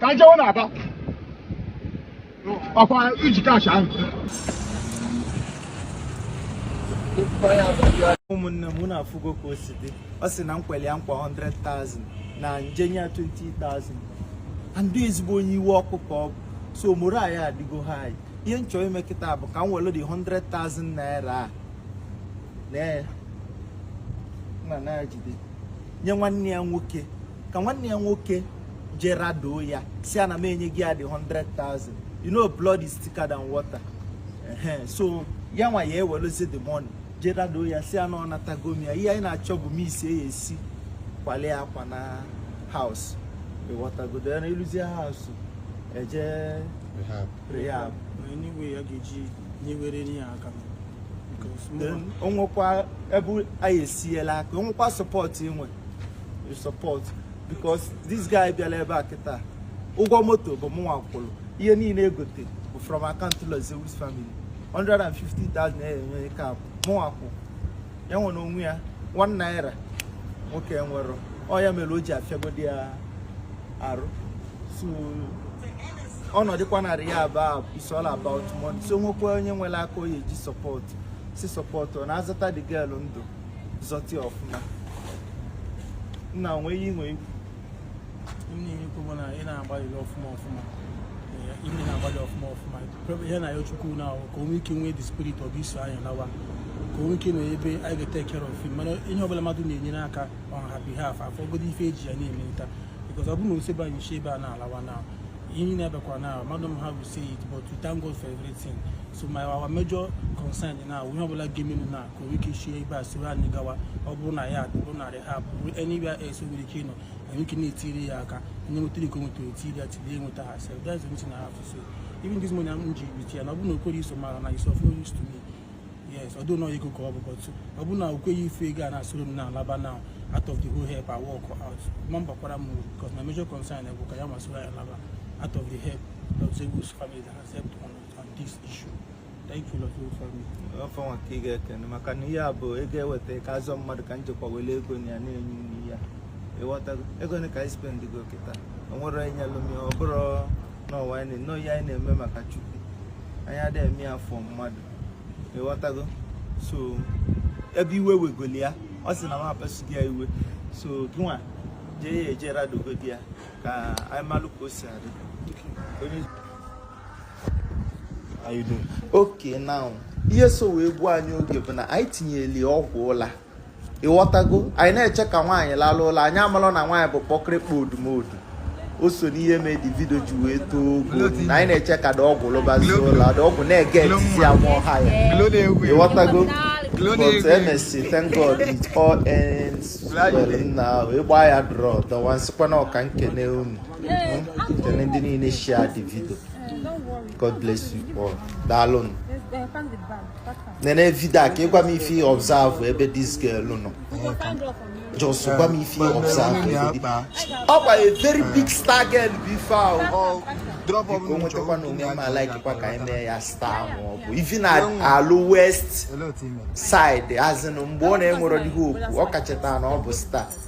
Ka anyị jewe na-aba ọkwa iji cash ahụ ụmụnne m unu afụgo ka o si dị ọ sị na m kwere ya nkwa 100,000 na m je nye ya 20,000 andị ezigbo onye iwe ọkụ ka ọ bụ so moro anyị adịgo ha anyị ihe m chọ ime kịta bụ ka m were the 100,000 naira a na ya na na ya jide nye nwanne ya nwoke ka nwanne ya nwoke je radoo ya sị ya na m enyego ya the 100,000 you know blood is thicker than water so yanwa ya-eweluzi the money je radoo ya sị ya na ọ natago m ya ihe anyị na-achọ bụ m isi ya esi kwale akwa na house ịghọtagodo ya na ịrụzie house eje rehab o nwekwa ebe anyị esiela aka o nwekwa support i nwe you support because this guy bịara ebe a kịta ụgwọ moto bụ mụnwa kwụrụ ihe niile e gote bụ from account Lord Zeus family 150,000 na-enye ike abụ mụnwa kwụ ya nwere onwe ya 1 naira nwoke enwerọ ọ ya mere o ji afịagodi ya arụ so ọ nọdụkwa na rehab is all about money so o nwekwa onye nwere aka ọ ya-eji support sị support ọ na-azọta the girl ndụ zọta ya ọfụma nna nwee ihe nwee ikwu m na-enye ikwu bụ na ị na-agbalịrị ọfụma ọfụma ime na-agbalị ọfụma ọfụma ihe m na-ayọ Chukwu na ahụ ka o nwee ike nwee the spirit of iso anyị nawa ka o nwee ike nọ ebe anyị ga-etake care of him mana ihe ọbụla mmadụ na-enyere aka on her behalf afọ ogodo ife e ji ya na-emelita because ọ bụrụ na o sobe anyị si ebe a na-alawa na ihe na-abịakwa na mmadụ m ha will say it but to thank God for everything so my our major concern na ihe ọbụla ga-emenụ na nwere ike isi ebe a soro anyị gawa ọ bụrụ na ya bụrụ na rehab bụrụ anywhere else nwere ike ịnọ anyị ike na-etiri ya aka onye nwetara ike o nwetara etiri ya tiri enweta ha sef that's the reason I have to say even this morning m ji bit ya na ọ bụrụ na o kwerọ iso m ala na it's of no use to me yes although na ego ka ọ bụ but ọ bụrụ na o kweghị ife ego a na-asoro m na alaba now out of the whole help I walk out ma m gbakwara m uru because my major concern bụ ka ya masoro ya alaba out of the help Lord Zeus family that has helped on, on this issue Thank you, Lord, for me. ọfọ nwa ka ị ga-ekene maka na ihe a bụ ego e weta ka a zọọ mmadụ ka m jekwa were ego na ya na-enye unu ihe a ịghọtago ego na ka anyị spendigo kịta o nwere onye nyelụ m ya ọ bụrụ na ọwa anyị na- nọ ihe anyị na-eme maka chukwu anyị adịghị eme ya for mmadụ ịghọtago so ebe iwe wegoli ya ọ sị na m apasughị ya iwe so gịnwa jee ya eje radogodi ya ka anyị malụ ka o si adị onye okay now ihe so wee gbuo anyị oge bụ na anyị tinyeli ọgwụ ụla ịghọtago anyị na-eche ka nwaanyị lalụ ụla anyị amalụ na nwaanyị bụ kpọkịrịkpa odumodu o so n'ihe mee the video ji wee too ogo na anyị na-eche ka the ọgwụ lụbazie ụla the ọgwụ na-ege etiti ya nwa ọha ya ịghọtago but emesịa thank god it all ends well na ịgba ya drọ dọwa m sịkwanụ ka m kene unu Kene ndị niile share the video. God bless you all. Daalụ nụ. Nene video a ka ịgwa m ife ị observe ebe this girl nọ. Just gwa m ife ị observe ebe dị. Ọ kwa a very big star girl bụ ife ahụ. Biko nwetakwa na onwe m a-likekwa ka anyị mee ya star ma ọ bụ even na alụ west side azịnụ mgbe ọ na-enwerọ dịghị okwu ọ kachata na ọ bụ star.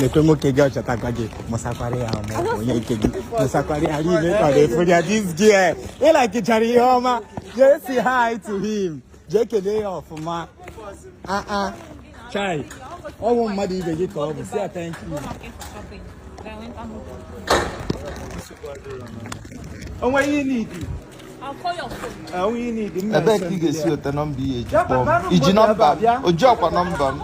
nekwa nwoke gị ọ chọtago gị mụsakwara ya ma ọ onye nke gị mụsakwara ya niile ka ọ na-efu ya this girl ịlakichara ihe ọma jee say hi to him jee kelee ya ọfụma aa ah, ah. chai ọ bụ mmadụ ibe gị ka ọ bụ sị ya thank you o nwe ihe n'idi ebee ka ị ga-esi weta nọmba ihe e ji kpọọ m i ji nọmba m o ji ọ kwa nọmba m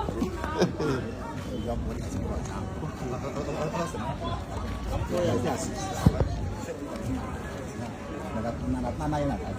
Nana, nana, nana, nana.